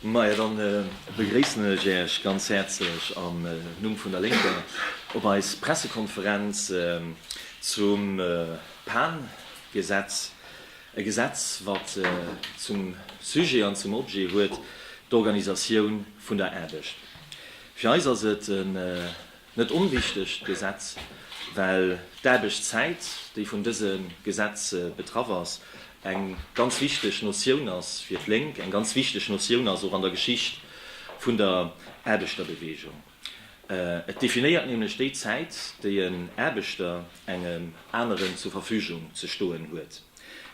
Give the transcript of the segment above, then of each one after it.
Majo, dann begréissen ech Äech ganz häerzlech am Numm vun der Lénker op eis Pressekonferenz zum Pan-Gesetz, e Gesetz wat zum Sujet an zum Objet huet d'Organisatioun vun der Aarbecht. Fir eis ass et e. Net onwichtegt Gesetz, well d'Aarbechtszäit, déi vun dëse Gesetz betraff ass, eng ganz wichteg Notioun ass fir d'Lénk, eng ganz wichteg Notioun ass och an der Geschicht vun der Aarbechterbeweegung. Et definéiert nämlech déi Zäit, déi en Aarbechter engem aneren zur Verfügung ze stoen huet.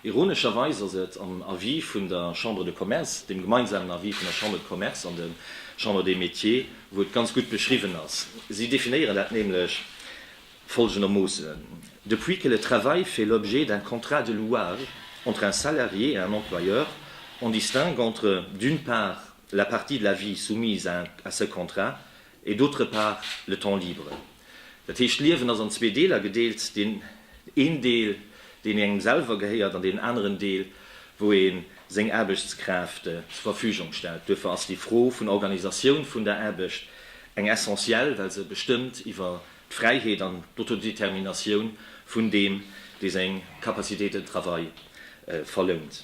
Ironescherweis ass et am Avis vun der Chambre de Commerce, dem gemeinsamen Avis vun der Chambre de Commerce an de Chambre des Métiers, wou et ganz gutt beschriwwen ass. Si definéieren dat nämlech folgendermoossen, Depuis que le travail fait l'objet d'un contrat de louage entre un salarié et un employeur, on distingue entre, d'une part, la partie de la vie soumise à ce contrat et, d'autre part, le temps libre. Dat heescht, d'Liewen ass an zwee Deeler gedeelt, deen een Deel, deen engem selwer gehéiert, an deen aneren Deel, wou ee seng Aarbechtskraaft zur Verfügung stellt. Duerfir ass déi Fro vun Organisatioun vun der Aarbecht eng essentiell, well se bestëmmt iwwer d'Fräiheet an d'Autodéterminatioun vun deem, dee seng Capacité de travail verlount.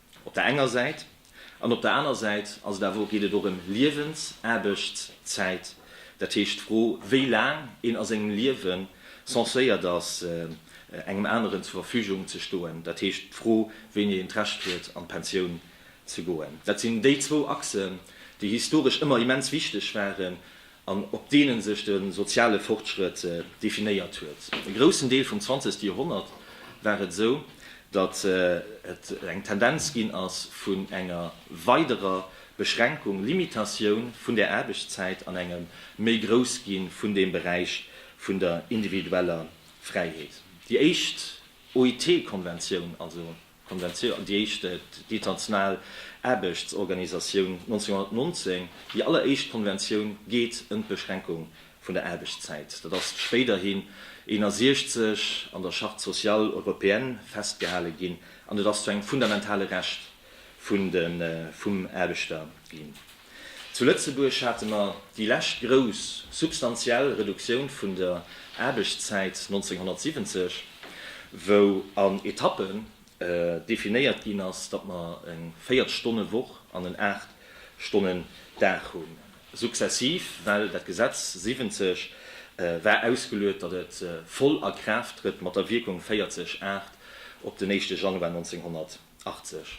Op der enger Säit. An op der aner Säit ass et awer och, geet et och ëm Liewens-, Aarbechtszäit. Dat heescht, d'Fro, wéi laang een a sengem Liewe censéiert ass, engem aneren zur Verfügung ze stoen, dat heescht, d'Fro, wéini een d'Recht huet, an d'Pensioun ze goen. Dat sinn déi zwou Achsen, déi historesch ëmmer immens wichteg waren an op deenen sech de soziale Fortschrëtt definéiert huet. E groussen Deel vum zwanzegste Joerhonnert war et esou, datt et eng Tendenz ginn ass vun enger weiderer Beschränkung, Limitatioun, vun der Aarbechtszäit an engem méi grouss gi vun dem Beräich vun der individueller Fräiheet. Déi éischt OIT-Konventioun, also Konventioun, déi éischt, déi International Aarbechtsorganisatioun 1919, déi alleréischt Konventioun geet ëm d'Beschränkung vun der Aarbechtszäit. Dat ass spéiderhin 61 an der Charte sociale européenne festgehale ginn an et ass zu engem fundamentale Recht vum Aarbechter ginn. Zu Lëtzebuerg hate mer déi lescht grouss substantiell Reduktioun vun der Aarbechtszäit 1970, wou an Etappen definéiert ginn ass, datt mer eng Véiertstonnewoch an en Aachtstonnendag hunn, successiv, well dat Gesetz 70 war ausgeluet, datt et voll a Kraaft trëtt mat der Wierkung 40, 8 op den éischte Januar 1970. 80.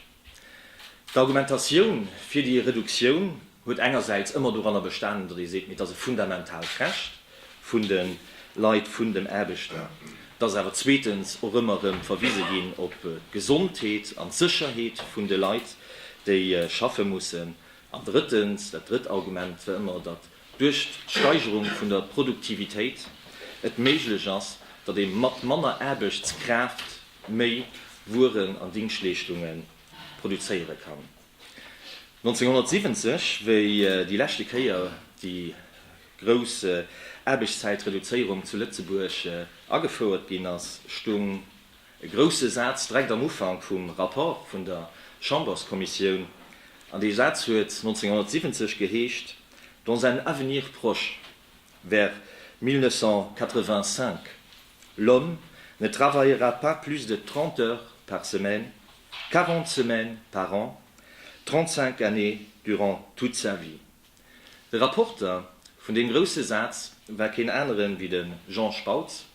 D'Argumentatioun fir déi Reduktioun huet engersäits ëmmer doranner bestanen, datt ee seet, mee et ass e fundamentaalt Recht vun de Leit, vun den Aarbechter. Et ass awer zweetens och ëmmer erëm verwise ginn op d'Gesondheet an d'Sécherheet vun de Leit, déi schaffe mussen. An drëttens, dat drëtt Argument war ëmmer, datt duerch d'Steigerung vun der Produktivitéit et méiglech ass, datt ee mat manner Aarbechtskraaft méi Wueren an Dingschtleeschtunge produzéiere kann. 1970, wéi déi leschte Kéier déi grouss Aarbechtszäitreduzéierung zu Lëtzebuerg agefouert ginn ass, stung e grousse Saz direkt am Ufank vum Rapport vun der Chamberskommissioun, an dee Saz huet 1970 geheescht, Dans un avenir proche. vers 1985, L'homme ne travaillera pas plus de 30 heures par semaine, 40 semaines par an, 35 années durant toute sa vie. De Rapporter vun deem grousse Saz war keen anere wéi de Jean Spautz,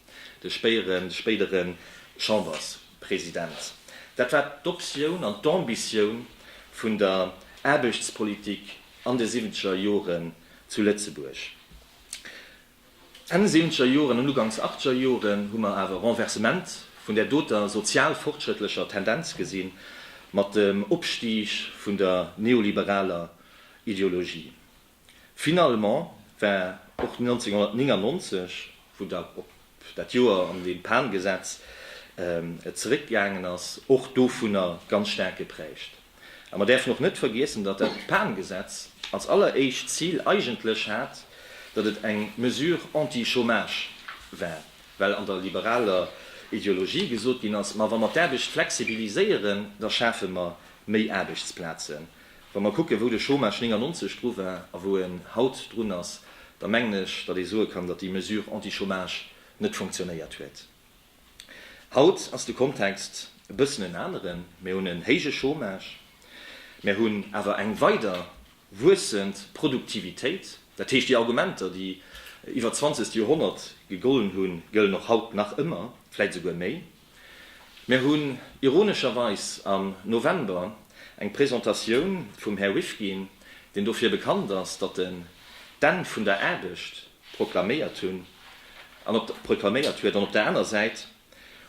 de spéidere Chamberspresident. Dat war d'Optioun an d'Ambitioun vun der Aarbechtspolitik an de siwwenzeger Joren. Zu Lëtzebuerg Enn siwenzger Joren an ugangs achtger Joren hu mer awer e Renversement vun där doter sozial-fortschrëttlecher Tendenz gesi mat dem Opstig vun der neoliberaler Ideologie. Finalement war och 1999, wou da op dat Joer an deem d'Pan-Gesetz et zeréckgaangen ass, och dovunner ganz staark geprägt. A mer däerfen och net vergiessen, datt dat PAN-Gesetz als alleréischt Zil eigentlech hat, datt et eng Mesure anti-chômage war, well an der liberaler Ideologie gesot ginn ass, Ma wa mer d'Aarbecht flexibiliséieren, da schafe mer méi Aarbechtsplazen. Wa mer kucken, wou de Chômage 99 dru war a wou en haut drun ass, da mengen ech, datt ee soe kann, datt déi Mesure anti-chômage net funktionéiert huet. Haut ass de Kontext e bëssen en aneren, Mir hunn en héije Chômage, mir hunn awer eng weider wuessend Produktivitéit. Dat heescht, déi Argumenter, déi iwwer d'zwanzegt Joerhonnert gegollen hunn, gëllen och haut nach ëmmer, vläicht esouguer méi. Mir hunn ironescherweis am November eng Presentatioun vum Här Rifkin, deen dofir bekannt ass, datt en d'Enn vun der Aarbecht proklaméiert hunn an op proklaméiert huet an op der aner Säit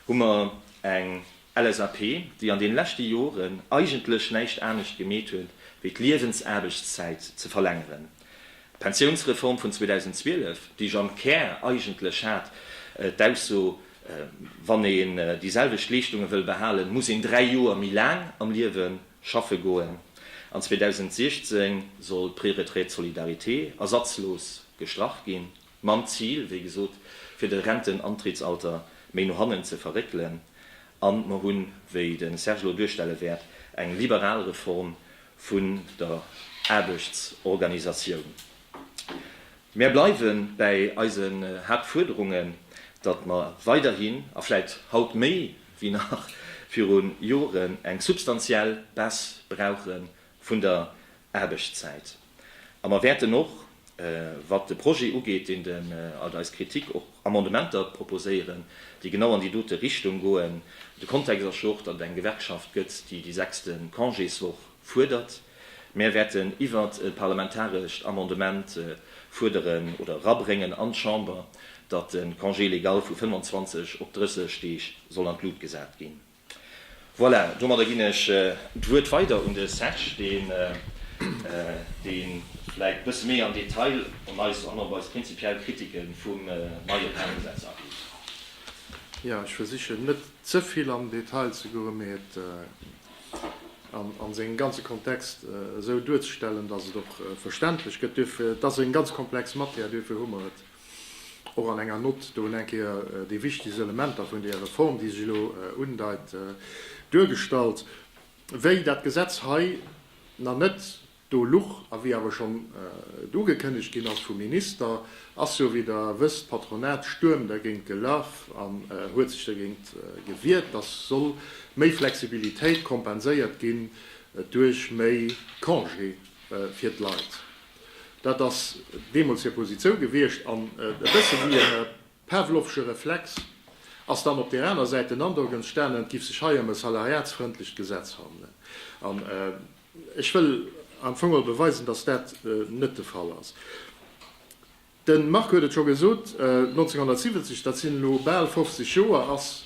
hu mer eng LSAP, déi an deene leschte Joren eigentlech näischt anescht gemeet huet wéi d'Liewensaarbechtszäit ze verlängeren. D'Pensiounsreform vun 2012, déi jo am Kär eigentlech hat d'Ausso, wann een déi selwecht Leeschtunge wëll behalen, muss een dräi Joer méi laang am Liewen Schaffe goen. An 2016 soll d'Préretraite de solidarité ersatzlos gestrach ginn, mam Zil, wéi gesot, fir de Rentenantrittsalter méi no hannen ze verréckelen. A mer hunn, wéi de Serge elo duerstelle wäert, eng liberal Reform vun der Aarbechtsorganisatioun. Mär bleiwe bäi eisen Haaptfuerderungen, datt mer weiderhin, a vläit haut méi déi nach viru Joren eng substantiell Baisse brauche vun der Aarbechtszäit. A mer wäerten och, wat de Projet ugeet, deen de, alt eis Kritik, och Amendementer proposéieren, déi genau an déi dote Richtung goen. De Kontext ass jo och, datt et eng Gewerkschaft gëtt, déi déi sechste Congéswoch fuerdert. Mär wäerten iwwert e parlamentarescht Amendement fuerderen oder erabréngen an d'Chamber, datt de Congé légal vu 25 op 30 Deeg soll an d'Lut gesat ginn. Voilà, domadder ginn ech d'Wuert weider un de Serge, deen, dee vläicht e bësse méi am Detail an eis, an op eis prinzipiell Kritike vum neie Pärelgesetz ageet. Jo, ech versichen, net ze vill am Detail ze goen, mee et an a sengem ganze Kontext esou duerzestellen, dass et och verständlech gëtt. Duerfir, et ass eng ganz komplex Matière, duerfir hu mer et och an enger Nott do un eng Kéier déi wichtegst Elementer vun där Reform, déi sech elo undeit, duergestallt. Wéi dat Gesetz hei nach net Do Luch a wéi awer schonn et ugekënnegt ginn ass vum Minister, ass jo, wéi Der wësst, d'Patronat Stuerm dergéint gelaf an huet sech dergéint gewiert, dass soll méi Flexibilitéit kompenséiert ginn duerch méi Congé fir d'Leit. Dat ass deemools hir Positioun gewiescht. An e bësse wéi e pavlovsche Reflex ass dann op där aner Säit den Androck entstanen, et giff sech hei ëm e salariatsfrëndlecht Gesetz handelen. Ech wëll am Fong mol beweisen, dass dat net de Fall ass. De Marc huet et scho gesot, 1970, dat sinn elo bal 50 Joer, ass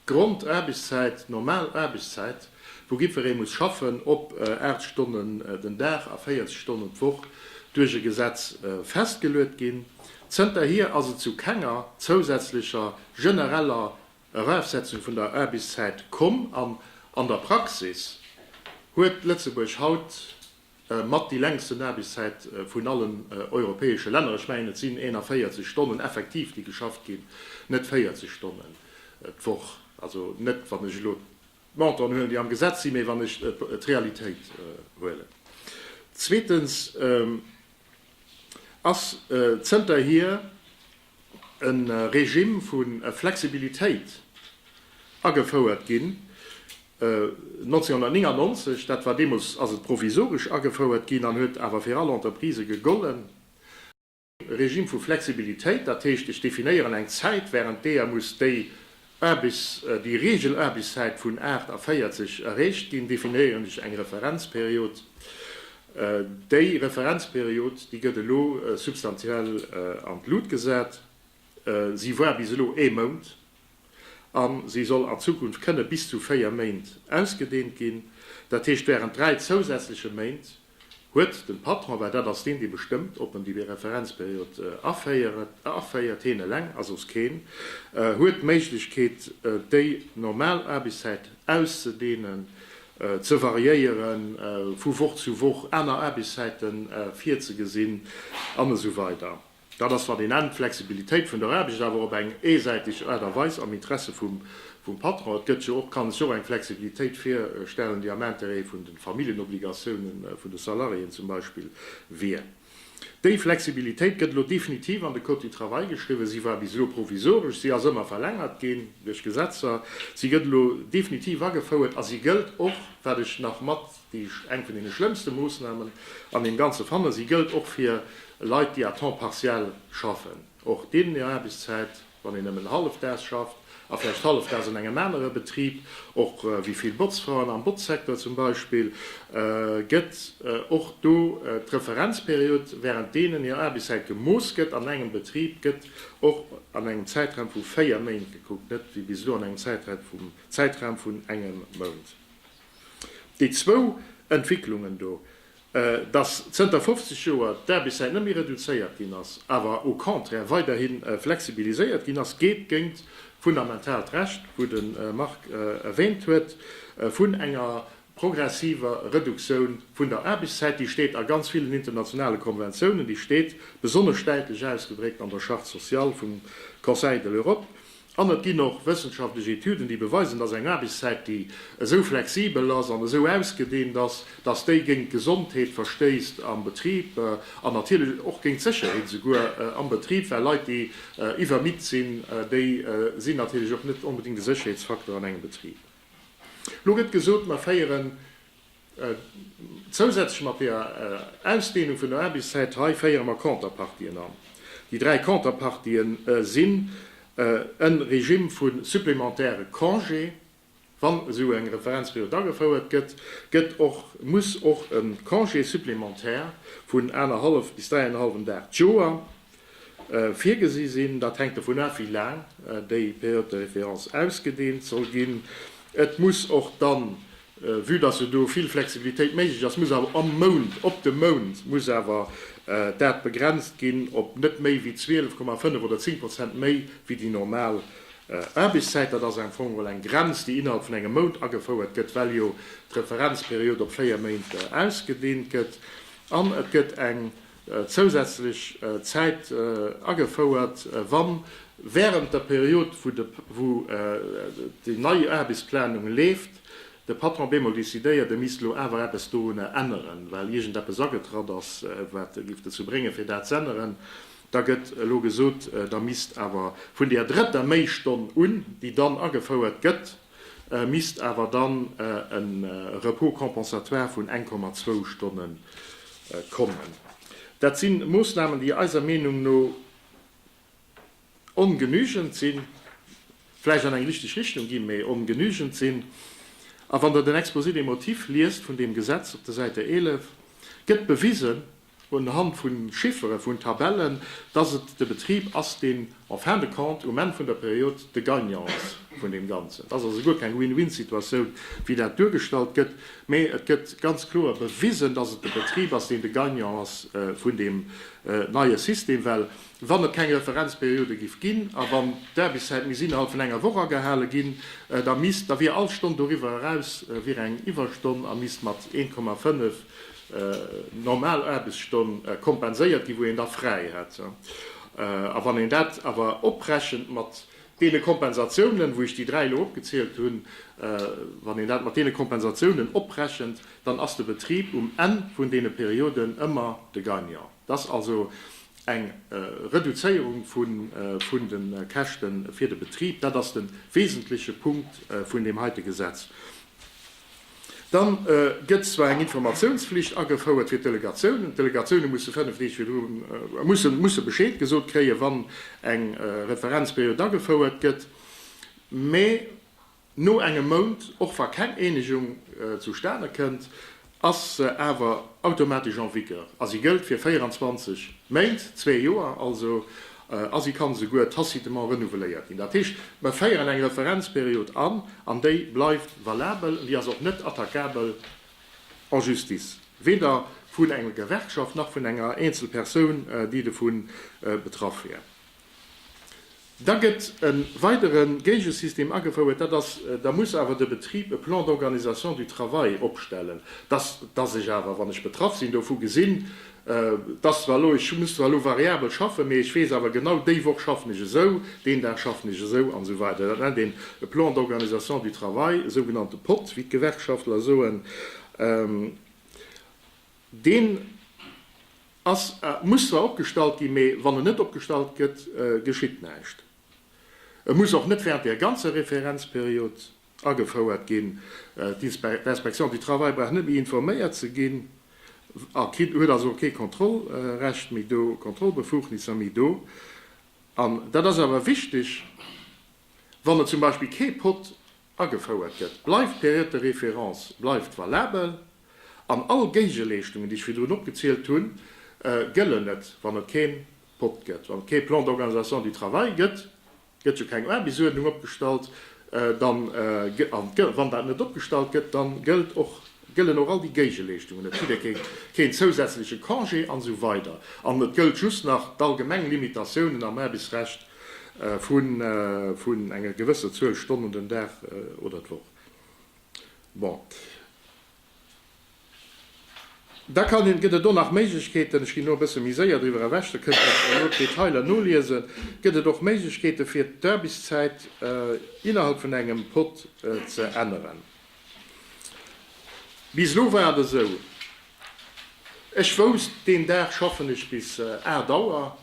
d'Grondaarbechtszäit, d'normal Aarbechtszäit, wou jiddweree muss schaffen, op 8 Stonnen den Dag a 40 Stonnen d'Woch duerch e Gesetz festgeluet ginn. Zënterhier ass et zu kenger zousätzlecher genereller Erafsetzung vun der Aarbechtszäit komm an an der Praxis huet Lëtzebuerg haut mat déi längsten Aarbechtszäit vun allen europäesche Länner. Ech mengen et sinn 41 Stonnen effektiv déi geschafft ginn, net 40 Stonnen d'Woch. Also net wann ech elo d'Monten huelen déi am Gesetz sinn, mee wann ech d'Realitéit huelen. Zweetens ass zënterhier e Regime vu Flexibilitéit agefouert ginn, 1999, dat war deemools, ass et provisoresch agefouert ginn an huet awer fir all Entreprise gegollen, e Regime vu Flexibilitéit, dat heescht, ech definéieren eng Zäit, während deeër muss déi Aarbéchs, déi Reegelaarbéchszäit vun 8 a 40 erreecht ginn, definéieren ech eng Referenzperiod. Déi Referenzperiod, déi gëtt elo substantiell an d'Lut gesat. Si war bis elo ee Mount a si soll an Zukunft kënne bis zu véier Méint ausgedehnt ginn, dat heescht während dräi zousätzleche Méint. Huet den Patron, well dat ass deen dee bestëmmt op en déi Referenzperiod aféiert, heen eleng ass soss keen, huet d'Méiglechkeet déi normal Aarbechtszäit auszedehnen, ze variéieren, vu Woch zu Woch aner Aarbechtszäiten virzegesinn an esou weider. Dat ass, wann een nennt, d'Flexibilitéit vun der Aarbecht, awer op eng eesäitig Aart a Weis, am Interesse vum Patron. Et gëtt jo och, kann ech och eng Flexibilitéit virstellen, déi am Intérêt vun de Familljenobligationen vun de Salariéen zum Beispill wier. Déi Flexibilitéit gëtt elo definitiv an de Code du travail geschriwwen. Si war bis elo provisoresch, si ass ëmmer verlängert ginn duerch Gesetzer, si gëtt elo definitiv agefouert a si gëllt och, wat ech nach mat Eng vun deene schlëmmste Moossnamen an deem Ganze fanne si gëllt och fir Leit, déi à temps partiel schaffen. Och deenen hir Aarbechtszäit, wann een nëmmen hallefdaags schafft a vläicht hallefdaags an engem anere Betrib, och wéi vill Botzfraen am Botzsecteur zum Beispill, gëtt och do d'Referenzperiod, wärend deenen hir Aarbechtszäit gemooss gëtt an engem Betrib, gëtt och an engem Zäitraum vu véier Méint gekuckt, net wéi bis elo an engem Zäitraum vun engem Mount. Déi zwou Entwicklungen do, dass zënter 50 Joer d'Aarbechtszäit net méi reduzéiert ginn ass, awer au contraire weiderhi flexibiliséiert ginn ass, geet géint d'fundamentaalt Recht, wou de Marc erwähnt huet, vun enger progressiver Reduktioun vun der Aarbechtszäit, déi steet a ganz villen internationale Konventiounen, déi steet besonnesch däitlech ausgedréckt an der Charte sociale vum Conseil de l'Europe. An et ginn och wëssenschaftlech Etüden, déi beweisen, dass eng Aarbechtszäit, déi esou flexibel ass an esou ausgedeent ass, dass déi géint d'Gesondheet verstéisst am Betrib an natierlech och géint d'Sécherheet esouguer am Betrib, well Leit, déi iwwermitt sinn, déi sinn natierlech och net onbedéngt e Sécherheetsfaktor an engem Betrib. Elo gëtt gesot, mer féieren Zousätzlech mat der Ausdeenung vun der Aarbechtszäit hei féiere mer Konterpartien an. Déi dräi Konterpartië sinn e Regime vu supplémentaire Congé, wann esou eng Referenzperiod agefouert gëtt, gëtt och, muss och e Congé supplémentaire vun anerhallef bis dräienhallwem Dag d'Joer virgesi sinn. Dat hänkt dovun af, wéi laang déi Période de référence ausgedehnt soll ginn. Et muss och dann Vue dass jo do vill Flexibilitéit méiglech ass, muss awer am Mount, op de Mount muss awer dat begrenzt ginn op net méi wéi 12,5 oder 10 Prozent méi wéi déi normal Aarbechtszäit. Dat ass am Fong emol eng Grenz, déi innerhalb vun engem Mount agefouert gëtt, well jo d'Referenzperiod op véier Méint ausgedehnt gëtt. An et gëtt eng zousätzlech Zäit agefouert, wa während der Period, wou déi nei Aarbechtsplanung leeft, de Patron bemol decidéiert, e misst elo awer eppes dorunner änneren, well iergendeppes agetratt ass, wat e géif dozou bréngen, fir dat z'änneren, da gëtt elo gesot, da misst awer vun där drëtter Méistonn un, déi dann agefouert gëtt, misst awer dann e Repos compensatoire vun 1,2 Stonne kommen. Dat si Moossnamen, déi eiser Meenung no ongenügend sinn, vläicht an eng richteg Richtung ginn, mä ongenügend sinn. A wann Der den Exposé des motifs liest vun deem Gesetz op der Säite 11, gëtt bewisen, un Hand vu Chiffere, vun Tabellen, dass et de Betrib ass, deen en fin de compte um Enn vun der Period de Gagnant ass vun deem Ganzen. Et ass also guer keng Win-win-Situatioun, wéi dat duergestallt gëtt, mä et gëtt ganz kloer bewisen, dass et de Betrib ass, deen de Gagnant ass vun deem neie System, well wann et keng Referenzperiode giff ginn a wann d'Aarbechtszäit misst innerhalb vun enger Woch agehale ginn, da misst, da wier all Stonn doriwwer eraus wier eng Iwwerstonn a misst mat 1,5 normal Aarbechtsstonn kompenséiert ginn, wou een da fräi hätt. A wann een dat awer oprechent mat deene Kompensatiounen, wou ech déi dräi elo opgezielt hunn, wann een dat mat deene Kompensatiounen oprechent, dann ass de Betrib um Enn vun deene Perioden ëmmer de Gagnant. Et ass also eng Reduzéierung vun de Käschte fir de Betrib. Dat ass de wesentleche Punkt vun deem heite Gesetz. Dann gëtt zwar eng Informatiounsflicht agefouert fir d'Delegatiounen. D'Delegatioune musse 5 Deeg virdru musse Bescheed gesot kréien, wann eng Referenzperiod agefouert gëtt. Mä no engem Mount, och wa keng Eenegung zustane kënnt, ass se awer automatesch en vigueur a si gëllt fir 24 Méint, zwee Joer also. a si kann esouguer tacitement renouveléiert ginn. Dat heescht, mer féieren eng Referenzperiod an, an déi bleift valabel, an déi ass och net attaquabel en Justice, weder vun enger Gewerkschaft nach vun enger eenzel Persoun, déi dovu betraff wär. Da gëtt e weidere Géigesystem agefouert, dat ass, da muss awer de Betrib e Plan d'organisation du travail opstellen, dass ech awer, wann ech betraff sinn, dovu gesinn, Et ass zwar elo, ech muss zwar elo variabel schaffen, mee ech weess awer genau, déi Woch schaffen ech esou, deen Dag schaffen ech esou an esou weider. Dat nennt een e Plan d'organisation du travail, e sougenannte pot, wéi d'Gewerkschaftler soen. Deen ass, muss zwar opgestallt ginn, mee wann en net opgestallt gëtt, geschitt näischt. E muss och net während där ganzer Referenzperiod. agefouert ginn. D'Inspection du Travail brauch net méi informéiert ze ginn a huet also kee Kontrollrecht méi do, Kontrollbefugnisser méi do. An dat ass awer wichteg, Wann et zum Beispill kee Pot agefouert gëtt, bleift d'Période de référence bleift valabel an all Géigeleeschtungen, déi ech virdrun opgezielt hunn, gëllen net, wann et kee Pot gëtt, wann et kee Plan d'organisation du travail gëtt. Gëtt jo keng Aarbechtsuerdnung opgestallt, dann, an wann dat net opgestallt gëtt, dann gëllt och, gëllen och all déi Géigeleeschtungen net, jidder kritt keen zousätzleche Congé an esou weider an et gëllt just nach d'allgemeng Limitatiounen am Aarbechtsrecht vun enger gewësser Zuel Stonnen den Dag oder d'Woch. Bon. Da kann een, gëtt et och nach Méiglechkeeten, ech ginn elo e bësse méi séier driwwer ewech, da kënnt Der elo d'Detailer noliesen, gëtt et och Méiglechkeete fir d'Aarbechtszäit innerhalb vun engem Pod ze änneren. Bis elo war et esou, ech wousst, deen Dag schaffen ech bis 8 Auer,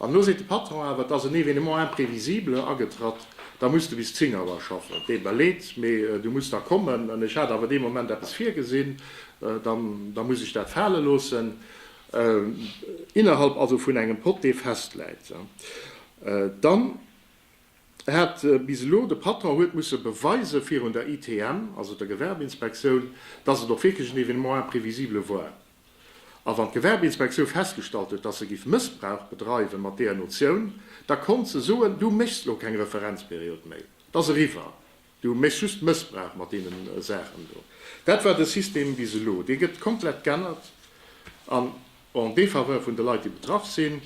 An elo seet de Patron awer, et ass en Événement imprévisible agetratt, da muss de bis 10 Auer schaffen. Dee beleet, mee du muss da kommen. An ech hat awer dee Moment eppes virgesinn, da muss ech dat fale loossen. Innerhalb also vun engem Pot, dee festläit. Dann hat bis elo de Patron huet musse beweise virun der ITM, also der Gewerbeinspektioun, dass et och wierklech en Événement imprévisible war. A wann d'Gewerbeinspektioun festgestallt huet, dass se giff Mëssbrauch bedreiwen mat deeër Notioun, da konnt se soen, du méchs lo keng Referenzperiod méi, t'ass eriwwer, du méchs just Mëssbrauch mat deenen Saachen do. Dat war de System bis elo. Dee gëtt komplett g'ännert an en défaveur vun de Leit, déi betraff sinn,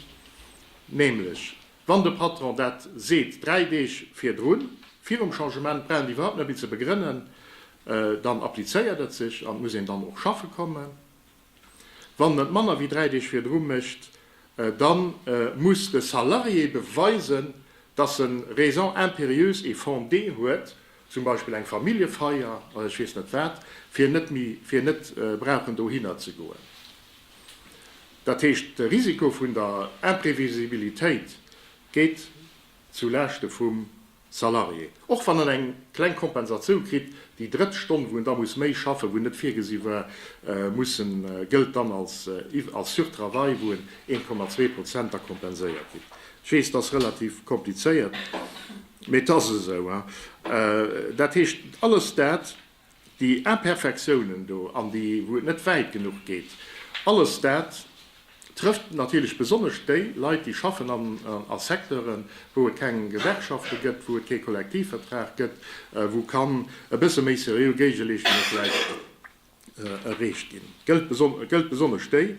nämlech. Wann de Patron dat seet dräi Deeg virdrun, virum Changement, brauch een iwwerhaupt net méi ze begrënnen, dann applizéiert et sech an et muss een dann och schaffe kommen. Wann en et manner wéi dräi Deeg virdru mécht, da muss de Salarié beweisen, dass en Raison impérieuse et fondée huet, zum Beispill eng Familljefeier oder ech weess net wat, fir net brauchen dohinner ze goen. Dat heescht, de Risiko vun der Imprevisibilitéit geet zu Laaschte vum Salarié, och wann en eng kleng Kompensatioun kritt. Déi drëtt Stonn, wou en da muss méi schaffen, wou net virgesi war, muss en, gëllt dann als Surtravail, wou en 1,2 Prozent da kompenséiert ginn. Ech weess, dat ass relativ komplizéiert, mee et ass esou. Dat heescht, alles dat Déi Imperfektiounen do an déi wou et net wäit genuch geet, alles dat trëfft natierlech besonnesch déi Leit déi schaffen a Secteuren, wou et keng Gewerkschafte gëtt, wou et kee Kollektivvertrag gëtt, wou kann e bësse méi seriö Géigeleeschtunge vläicht erreecht ginn. Gëllt besonnesch déi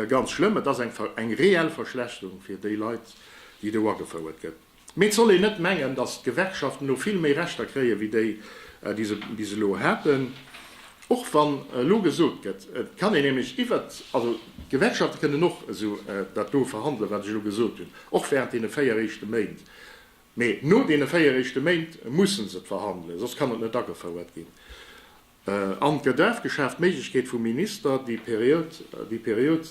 ganz schlëmm. Et ass eng reell Verschlechterung fir déi Leit déi do agefouert gëtt. Mee et soll een net mengen, datt d'Gewerkschaften elo vill méi Rechter kréien, wéi déi, déi se bis elo haten. Och wann elo gesot gëtt, et kann een nämlech iwwert, also d'Gewerkschafte kënnen och esou dat do verhandelen, wat ech elo gesot hunn, och während deene véier éischte Méint. Mee no deene véier éischte Méint mussen se et verhandelen, soss kann et net agefouert ginn. An d'Gedaf geschaaft d'Méiglechkeet vum Minister, déi Period, déi Period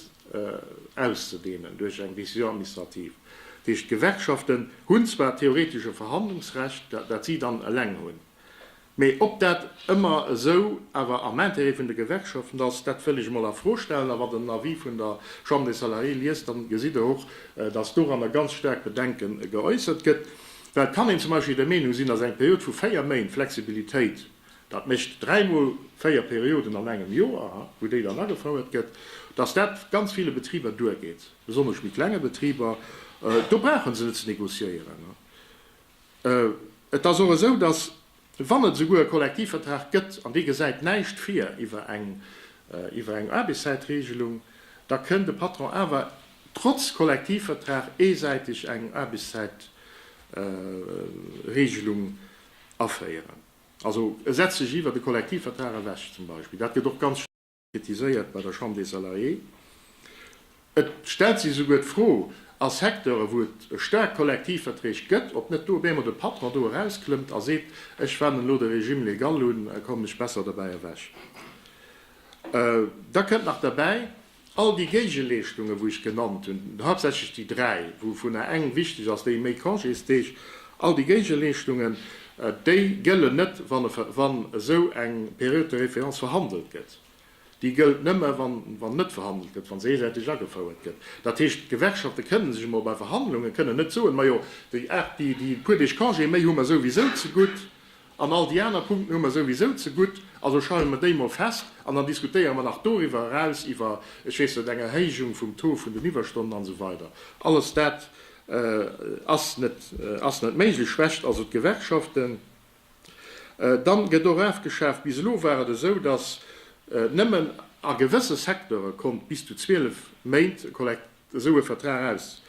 auszudehnen duerch eng Décision administrative. Dat heescht, d'Gewerkschaften hunn zwar theoretesch e Verhandlungsrecht, dat si dann eleng hunn, mä ob dat ëmmer esou awer am Intérêt vun de Gewerkschaften ass, dat wëll ech emol a Fro stellen. A wann Der den Avis vun der Chambre des Salariés liest, da gesitt Der och, dass doranner ganz staark Bedenke geäussert gëtt, well et kann een zum Beispill der Meenung sinn, dass eng Period vu véier Méint Flexibilitéit, dat mécht dräi mol véier Perioden an engem Joer, wou déi dann agefouert gëtt, dass dat ganz ville Betriber duergeet, besonnesch méi klenge Betriber. Do brauche se net ze négociéieren. Et ass och esou, dass, wann et esouguer e Kollektivvertrag gëtt an dee gesäit näischt vir iwwer eng Aarbechtszäitregelung, da kënn de Patron awer trotz Kollektivvertrag eesäiteg eng Aarbechtszäitregelung aféieren. Also e setzt sech iwwer de Kollektivvertrag ewech zum Beispill. Dat gëtt och ganz staark kritiséiert bei der Chambre des Salariés. Et stellt sech esouguer d'Fro a Secteure wou et staark Kollektivverträg gëtt, ob net do op eemol de Patron do erausklëmmt a seet, ech wennen elo de Régime légal un, kommen ech besser derbäi ewech. Da kënnt nach derbäi, All déi Géigeleeschtungen, wou ech genannt hunn, haaptsächlech déi dräi, wouvunner eng wichteg ass, déi méi Congésdeeg, all déi Géigeleeschtungen, déi gëllen net, wann esou eng Période de référence verhandelt gëtt. Déi gëllt nëmme wann net verhandelt gëtt, wann se eesäiteg agefouert gëtt. Dat heescht, d'Gewerkschafte kënne sech emol bei Verhandlungen kënne net soen, majo déi puer Deeg Congé méi hu mer souwisou ze gutt. An all déi aner Punkten hu mer souwisou zegutt. Also schreiwe mer déi mol fest an dann diskutéiere mer nach doriwwer eraus iwwer, ech weess net, eng Erhéijung vum Taux vun den Iwwerstonnen an esou weider. Alles dat ass net, ass net méiglech, schwächt also d'Gewerkschaften. Dann gëtt och afgeschaaft. Bis elo war et esou, dass nëmmen a gewësse Secteure konnt bis zu 12 Méint e Kollektiv. esou e Vertrag aus,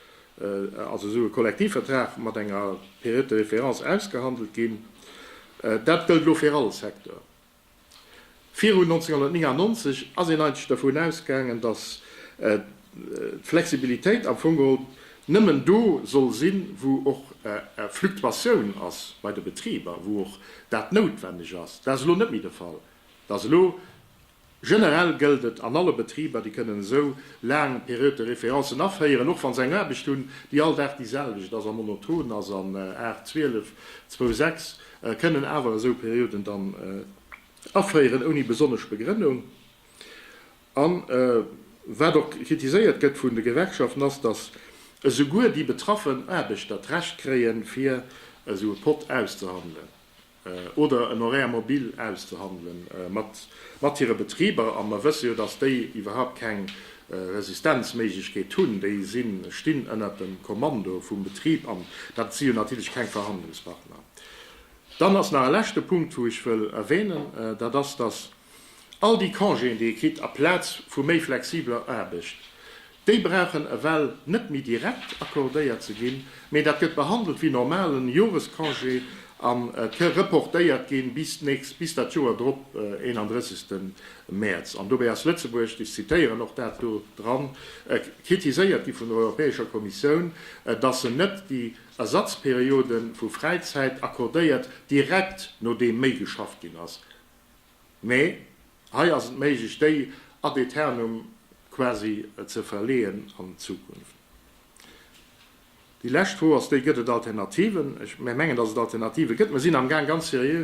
also esou e Kollektivvertrag mat enger Période de référence ausgehandelt ginn. Dat gëllt elo fir all Secteur. Virun 1999 ass een eigentlech dovun ausgaangen, datt d'Flexibilitéit am Fong geholl nëmmen do soll sinn, wou och Fluktuatioun ass bei de Betriber, wou och dat noutwenneg ass. Dat ass elo net méi de Fall. Dat ass elo Generell gëllt et an alle Betriber, déi kënnen esou laang Période de référencen aféieren, och wa se eng Aarbecht hunn, déi all Dag déi selwecht ass a monoton ass, an 8, 12, 2, 6, kënnen awer esou Périoden dann aféieren ouni besonnesch Begrënnung. A wat och kritiséiert gëtt vun de Gewerkschaften ass, datt esouguer déi betraffen Aarbechter d'Recht kréien, fir esou e Pot auszehandelen. oder en Horaire mobile auszehandele mat hire Betriber. A mer wësse jo, dass déi iwwerhaupt keng Resistenzméiglechkeet hunn. Déi stinn ënnert dem Kommando vum Betrib an dat si jo natierlech keng Verhandlungspartner. Dann ass nach e leschte Punkt, wou ech wëll erwänen, dat ass, dass, All déi Congéen, déi ee kritt aplaz vu méi flexibler Aarbecht, déi brauchen ewell net méi direkt accordéiert ze ginn, mee dat gëtt behandelt wéi normalen Jorescongé an ke reportéiert gi bis d'nächst, bis dat Joer drop, 31. Mäerz. An dobäi ass Lëtzebuerg, ech zitieren och dat do dran, kritiséiert gi vun der Europäescher Kommissioun, dass se net déi Ersatzperiode vu Fräizäit accordéiert direkt nodeem méi geschafft ginn ass. Mee hei ass et méiglech, déi ad aeternum quasi ze verleeën an d'Zukunft. Déi lescht Fro ass déi, Gëtt et Alternativen? Mär mengen, dass et Alternative gëtt. Mir sinn amgaang ganz seriö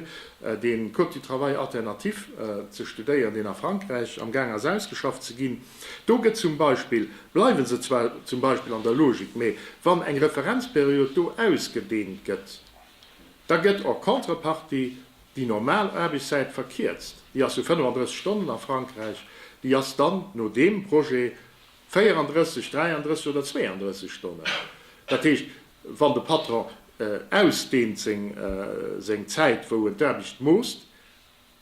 de Code du travail alternatif ze studéieren, deen a Frankräich amgaang ass ausgeschafft ze ginn. Do gëtt zum Beispill, bleiwe se zwar zum Beispill an der Logik, mee wann eng Referenzperiod do ausgedehnt gëtt, da gëtt en contrepartie Déi normal Aarbechtszäit verkierzt, déi ass jo 35 Stonnen a Frankräich, déi ass dann no deem Projet 34, 33 oder 32 Stonnen. Dat heescht, wann de Patron ausdehnt seng Zäit, wou en d'Aarbecht moosst,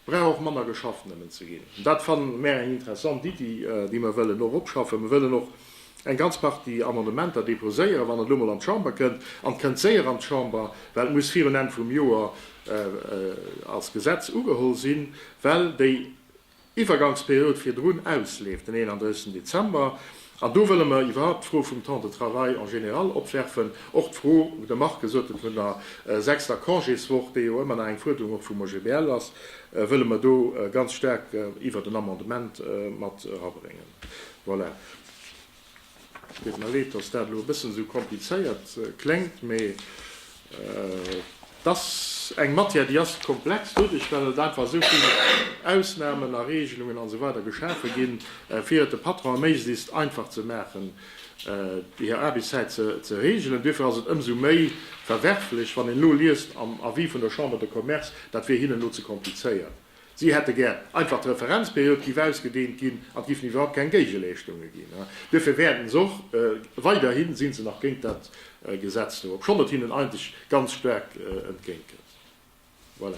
brauch och manner geschafft nëmmen ze ginn. Dat fanne mär eng interessant Iddi, déi mer wëllen och opschaffen. Mer wëllen och. eng ganz Partie Amendementer déposéieren, wann et elo emol an d'Chamber kënnt, an et kënnt séier an d'Chamber, well et muss virun Enn vum Joer als Gesetz ugeholl sinn, well déi Iwwergangsperiod virdrun ausleeft, den 31 Dezember. An do wëlle mer iwwerhaupt d'Fro vum Temps de travail en général opwerfen, och d'Fro, wou de Marc gesot huet, vun der sechster Congéswoch, déi jo ëmmer nach eng Fuerderung och vum OGBL ass, wëlle mer do ganz staark iwwert en Amendement mat erabréngen. Voilà. Et deet mer leed, dass dat elo e bëssen esou komplizéiert kléngt, mee et ass eng Matière, déi ass komplex, doduerch well et einfach esou vill Ausnamen a Regelungen a sou weider geschafe ginn, fir et de Patronen méiglist einfach ze maachen, hir Aarbechtszäit ze regelen. Duerfir ass et ëmsou méi verwerflech, wann een elo liest am Avis vun der Chambre de Commerce, dat wier hinnen elo ze komplizéiert. Si hätte gär einfach d'Referenzperiod giff ausgedehnt ginn an et giffen iwwerhaupt keng Géigeleeschtunge ginn. Duerfir wäerten se och weiderhin, sinn se nach géint dat Gesetz do, obschonn et hinnen eigentlech ganz staark entgéint kënnt. Voilà.